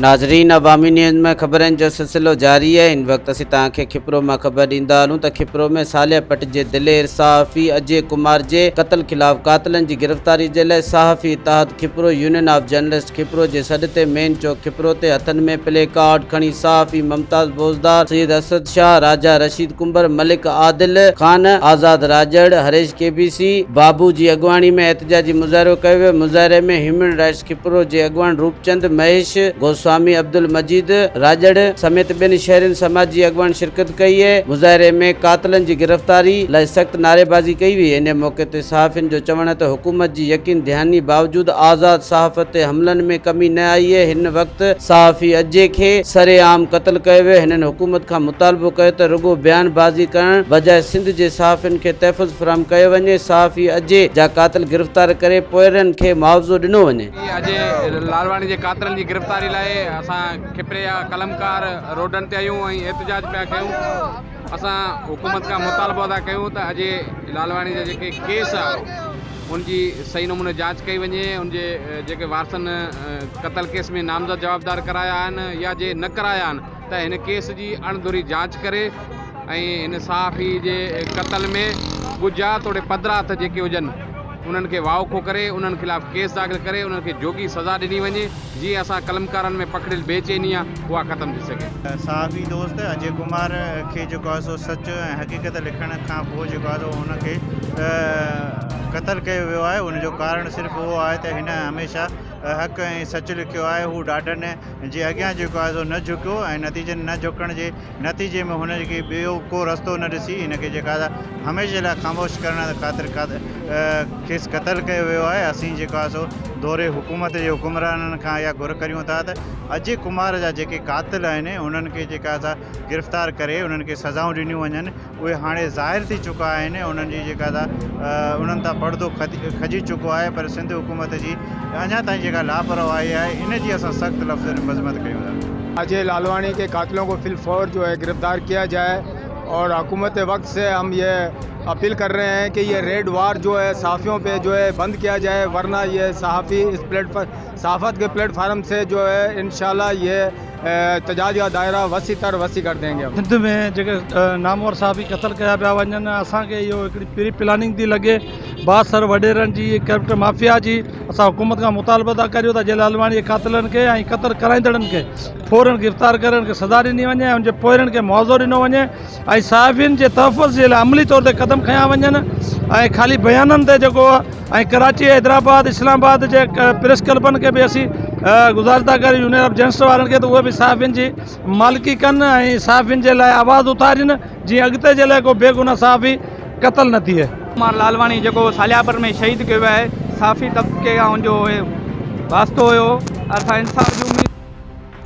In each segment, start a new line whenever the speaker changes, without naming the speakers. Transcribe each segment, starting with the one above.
ناظرين عوامي نيوز ۾ خبرن جو سلسلو جاري آهي ان وقت اسين توهان کي کپرو مان خبر ڏيندا هلون ته کپرو ۾ صالح پٽ جي دلير صحافي اجي ڪمار جي قتل خلاف قاتلن جي گرفتاري جي لاء صحافي اتحاد Khipro union of journalist Khipro جي سڏ تي مين چوڪ کپرو تي هٿن ۾ پلي ڪارڊ کڻي صحافي ممتاز بوزدار، سيد اسد شاهه، راجا رشيد ڪنڀر، ملڪ عادل خان، آزاد راڄڙ، هريش ڪي بي سي، بابو جي اڳواڻي ۾ احتجاجي مظاهرو ڪيو ويو، مظاهري ۾ هيومن رائٽس کپرو جي اڳواڻ روپچند مهيش، گوسوامي عبدالمجيد، راڄڙ، سميت ٻين شهرين سماجي اڳواڻن شرڪت ڪئي، مظاهري ۾ قاتلن جي گرفتاري لاء سخت نعريبازي ڪئي وئي، انهيء موقعي تي. صحافين جو چوڻ آهي ته حڪومت جي يقين دهاني باوجود آزاد صحافت تي حملن ۾ ڪمي نه آئي اهي هن وقت صحافي اجي کي سر عام قتل ڪيو ويو هنن حڪومت کان مطالبو ڪيو ته رڳو بيان بازي ڪرڻ بجاء سنڌ جي صحافين کي تحفظ فراهم ڪيو وڃي صحافي اجي جا قاتل گرفتار ڪري پوئرن کي معاوضو ڏنو وڃي. اجي لالواڻي
جي قاتلن جي گرفتاري لاء اسان کپري جا قلمڪار روڊن تي آهيون ۽ احتجاج پيا ڪيون. اسان حڪومت کان مطالبو ٿا ڪيون ته اجي لالواڻي جا جيڪي ڪيس آ ان جي صحيح نموني جاچ ڪئي وڃي ان جي جيڪي وارثن قتل ڪيس ۾ نامزد جوابدار ڪرايا آهن يا جي نه ڪرايا آهن ته هن ڪيس جي اڻ ڌري جاچ ڪري ۽ هن صحافي جي قتل ۾ ڳجها توڙي پڌرا هٿ جيڪي هجن انهن کي واوکو ڪري انهن خلاف ڪيس داخل ڪري انهن کي جوڳي سزا ڏني وڃي جيئن اسان قلمڪارن ۾ پکڙيل بي چيني آ اها ختم ٿي سگهي. صحافي دوست
اجي ڪمار کي جيڪو آهي سو سچ ۽ حقيقت لکڻ کان پوء جيڪو آهي سو هن کي قتل ڪيو ويو آهي ان جو ڪارڻ صرف اهو آهي ته هن هميشه حق ۽ سچ لکيو آهي هو ڏاڍن جي اڳيان جيڪو آهي سو نه جهڪيو ۽ نتيجن نه جهڪڻ جي نتيجي ۾ هن کي ٻيو ڪو رستو نه ڏسي هن کي جيڪا سا هميشه لاء خاموش ڪرڻ خاطر کيس قتل ڪيو ويو آهي اسين جيڪو آهي سو دوري حڪومت جي حڪمرانن کان اها گهر ڪريون ٿا ته اجي ڪمار جا جيڪي قاتل آهن انهن کي جيڪا سا گرفتار ڪري انهن کي سزائون ڏنيون وڃن اهي هاڻي ظاهر ٿي چڪا آهن ۽ انهن جي جيڪا ته انهن تان پڙدو کڄي چڪو آهي پر سنڌ حڪومت جي اڃا تائين جيڪا لاپرواهي آهي ان جي اسان سخت لفظن ۾ مذمت ڪيون ٿا. اجي لالواڻي ڪي
قاتلون ڪو في الفور جو هي گرفتار ڪيا جائي اور حڪومت وقت سي هم يي اپيل ڪر رهي هين ڪي يي ريڊ وار جو هي صحافيون پي جو هي بند ڪيا جائي ورنه يي صحافي اس پليٽ پر صحافت کي پليٽ فارم سي جو هي انشاء الله يي احتجاج ڪا دائره وسيع تر وسيع ڪر دينگي ھم. سنڌ ۾ جيڪي
نامور صحافي قتل ڪيا پيا وڃن اسان کي اهو هڪڙي پري پلاننگ ٿي لڳي بااثر وڏيرن جي ڪرپٽ مافيا جي اسان حڪومت کان مطالبو ٿا ڪريون ته جيلال واڻي جي قاتلن کي ۽ قتل ڪرائيندڙن کي فورن گرفتار ڪري ان کي سزا ڏني وڃي ۽ ان جي پوئرن کي معاوضو ڏنو وڃي ۽ صحافين جي تحفظ جي لاء عملي طور تي قدم کنيا وڃن ۽ خالي بيانن تي جيڪو ۽ ڪراچي حيدرآباد اسلام آباد جي پريس ڪلبن کي به اسين گذارش ٿا ڪريون يونين آف جرنلسٽ وارن کي ته اهي به صحافين جي مالڪي ڪن ۽ صحافين جي لاء آواز اٿارين جيئن اڳتي جي لاء ڪو بيگناهه صحافي قتل نه ٿئي. ڪمار لالواڻي جيڪو
ساليابر ۾ شهيد ڪيو ويو آهي صحافي طبقي کان ان جو واسطو هيو اسان انصاف جي اميد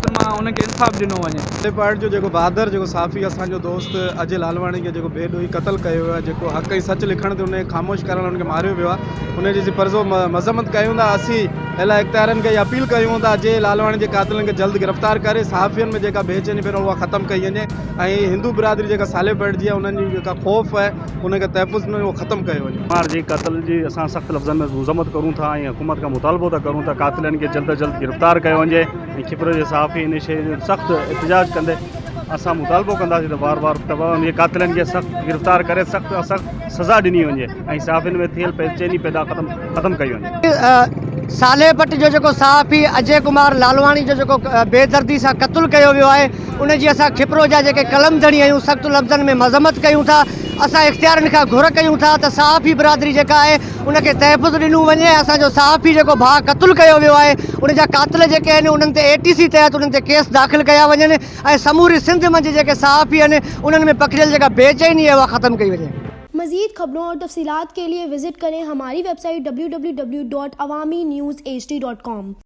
ته مان انهن کي انصاف ڏنو وڃي. ٽي پوائنٽ جو جيڪو بھادر
جيڪو صحافي اسان جو دوست اجي لالواڻي کي جيڪو بي ڏوھي قتل ڪيو ويو آھي جيڪو حق ۽ سچ لکڻ تي ان کي خاموش ڪرڻ لاء ان کي ماريو ويو آھي ان جي اسين پرزور مذمت ڪيون ٿا اسين اعليٰ اختيارين کي اھا اپيل ڪيون ٿا اجي لالواڻي جي قاتلن کي جلد گرفتار ڪري صحافين ۾ جيڪا بي چيني پھريون اھا ختم ڪئي وڃي ۽ ھندو برادري جيڪا سالي بيٺ جي آھي انهن جي جيڪا خوف ان کي تحفظ ۾ هو ختم ڪيو وڃي. مينهار جي قتل جي
اسان سخت لفظن ۾ مذمت ڪرون ٿا ۽ حڪومت کان مطالبو ٿا ڪريون ته قاتلن کي جلد از جلد گرفتار ڪيو وڃي ۽ کپرو جي صحافي ان شيء جو سخت احتجاج ڪندي اسان مطالبو ڪنداسين ته وار وار ته انهن جي قاتلن کي سخت گرفتار ڪري سخت کان سخت سزا ڏني وڃي ۽ صحافين ۾ ٿيل بي چيني پيدا ختم ڪئي وڃي. سالهه پٽ جو
جيڪو صحافي اجي ڪمار لالواڻي جو جيڪو بي دردي سان قتل ڪيو ويو آهي ان جي اسان کپرو جا جيڪي قلم ڌڻي آهيون سخت لفظن ۾ مذمت ڪيون ٿا اسان اختيارين کان گهر ڪيون ٿا ته صحافي برادري جيڪا آهي ان کي تحفظ ڏنو وڃي ۽ اسان جو صحافي جيڪو ڀاء قتل ڪيو ويو آهي ان جا قاتل جيڪي آهن انهن تي اي ٽي سي تحت انهن تي ڪيس داخل ڪيا وڃن ۽ سموري سنڌ منجهه جيڪي صحافي آهن انهن ۾ پکڙيل جيڪا بي چيني آهي اها ختم ڪئي وڃي. مزيد خبرون
اور تفصيلات کے لئے وزٹ کریں ہماری web site www.awami news hd.com.